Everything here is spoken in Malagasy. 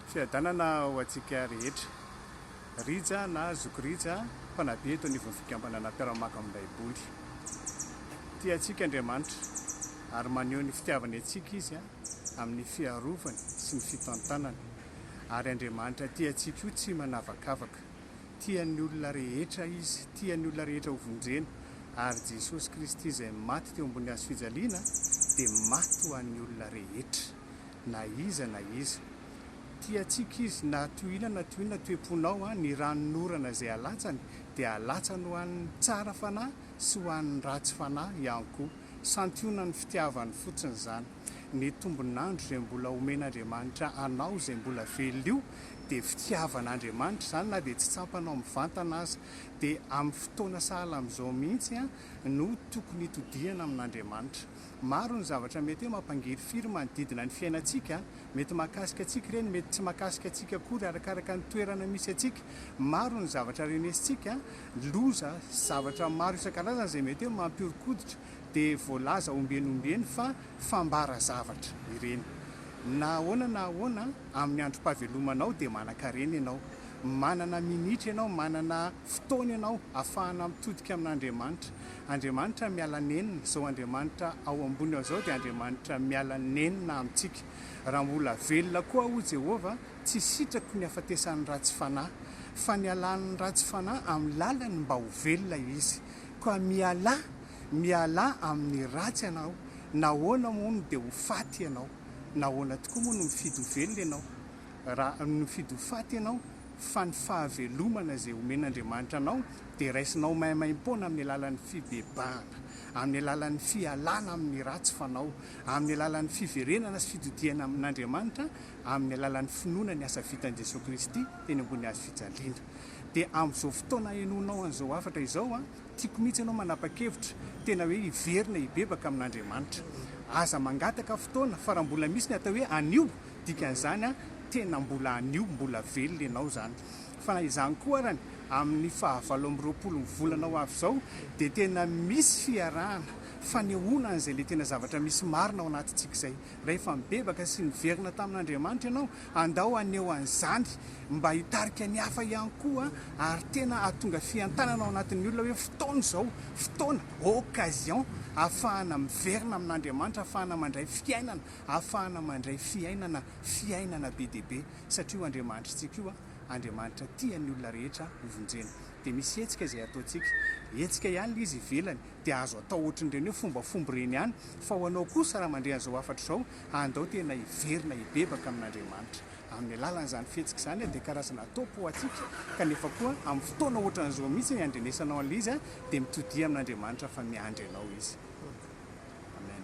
Fiadanana ho antsika rehetra. Rija na Zoky Rija, mpanabe eto anivon'ny Fikambanana Mpiara-mamaky ny Baiboly. Tia antsika Andriamanitra, ary maneho ny fitiavany antsika izy amin'ny fiarovany sy ny fitantanany. Ary Andriamanitra tia antsika io tsy manavakavaka. Tia ny olona rehetra izy, tia ny olona rehetra hovonjena. Ary Jesosy Kristy izay maty teo ambony hazo fijaliana dia maty ho an'ny olona rehetra. na iza na iza. Tiantsika izy na toy inona na toy inona toe-ponao, ny ranon'orana izay alatsany dia alatsany ho an'ny tsara fanahy sy ho an'ny ratsy fanahy ihany koa. Santionan'ny fitiavany fotsiny izany. Ny tombon'andro izay mbola omen'Andriamanitra anao izay mbola velona io dia fitiavan'Andriamanitra izany na dia tsy tsapanao mivantana aza. Dia amin'ny fotoana sahala amin'izao mihitsy no tokony hitodihana amin'Andriamanitra. Maro ny zavatra mety hoe mampangirifiry manodidina ny fiainantsika, mety mahakasika antsika ireny, mety tsy mahakasika antsika akory, arakaraka ny toerana misy antsika. Maro ny zavatra renesintsika, loza, zavatra maro isan-karazany izay mety hoe mampihoron-koditra, dia voalaza ombieny ombieny fa fambara zavatra ireny. Na ahoana na ahoana, amin'ny androm-pahavelomanao dia manan-karena ianao. Manana minitra ianao, manana. fotoana ianao afahana mitodika amin'Andriamanitra. Andriamanitra miala nenina, izao Andriamanitra ao ambony ao izao dia Andriamanitra miala nenina amintsika. Raha mbola velona koa aho, hoy Jehovah, tsy sitrako ny hahafatesan'ny ratsy fanahy, fa nialan'ny ratsy fanahy amin'ny lalany mba ho velona izy. Koa mialà, mialà amin'ny ratsy ianao. Nahoana moa no dia ho faty ianao? Nahoana tokoa moa no mifidy ho velona ianao, raha mifidy ho faty ianao? fa ny fahavelomana izay omen'Andriamanitra anao dia raisinao maimaimpoana amin'ny alalan'ny fibebahana, amin'ny alalan'ny fialana amin'ny ratsy fanao, amin'ny alalan'ny fiverenana sy fitodihana amin'Andriamanitra, amin'ny alalan'ny finoana ny asa vitan'i Jesoa Kristy teny ambony hazo fijaliana. Dia amin'izao fotoana henoanao an'izao hafatra izao an, tiako mihitsy ianao manapa-kevitra tena hoe hiverina hibebaka amin'Andriamanitra. Aza mangataka fotoana fa raha mbola misy ny atao hoe anio, Dikan'izany an, tena mbola anio, mbola velona ianao izany. Fa na izany koa arany, amin'ny fahavalo amby roapolo ny volana ho avy izao, dia tena misy fiarahana, fanehoana an'izay ilay tena zavatra misy marina ao anatintsika izay. Rehefa nibebaka sy niverina tamin'Andriamanitra ianao, andao haneho an'izany mba hitarika ny hafa ihany koa, ary tena hahatonga fientanana ao anatin'ny olona hoe fotoana izao, fotoana, occasion, ahafahana miverina amin'Andriamanitra, ahafahana mandray fiainana Ahafahana mandray fiainana, fiainana be dia be, satria io Andriamanitrintsika io, Andriamanitra tia ny olona rehetra hovonjena. Dia misy hetsika izay ataontsika, hetsika ihany ilay izy ivelany, dia azo atao ohatran'ireny hoe fombafomba ireny ihany, fa ho anao kosa raha mandre an'izao hafatra izao, andao tena hiverina hibebaka amin'Andriamanitra. Amin'ny alalan'izany fihetsika izany, dia karazana top ho antsika, kanefa koa amin'ny fotoana ohatran'izao mihitsy iandrenesanao an'ilay izy, dia mitodia amin'Andriamanitra fa miandry anao Izy. Amen.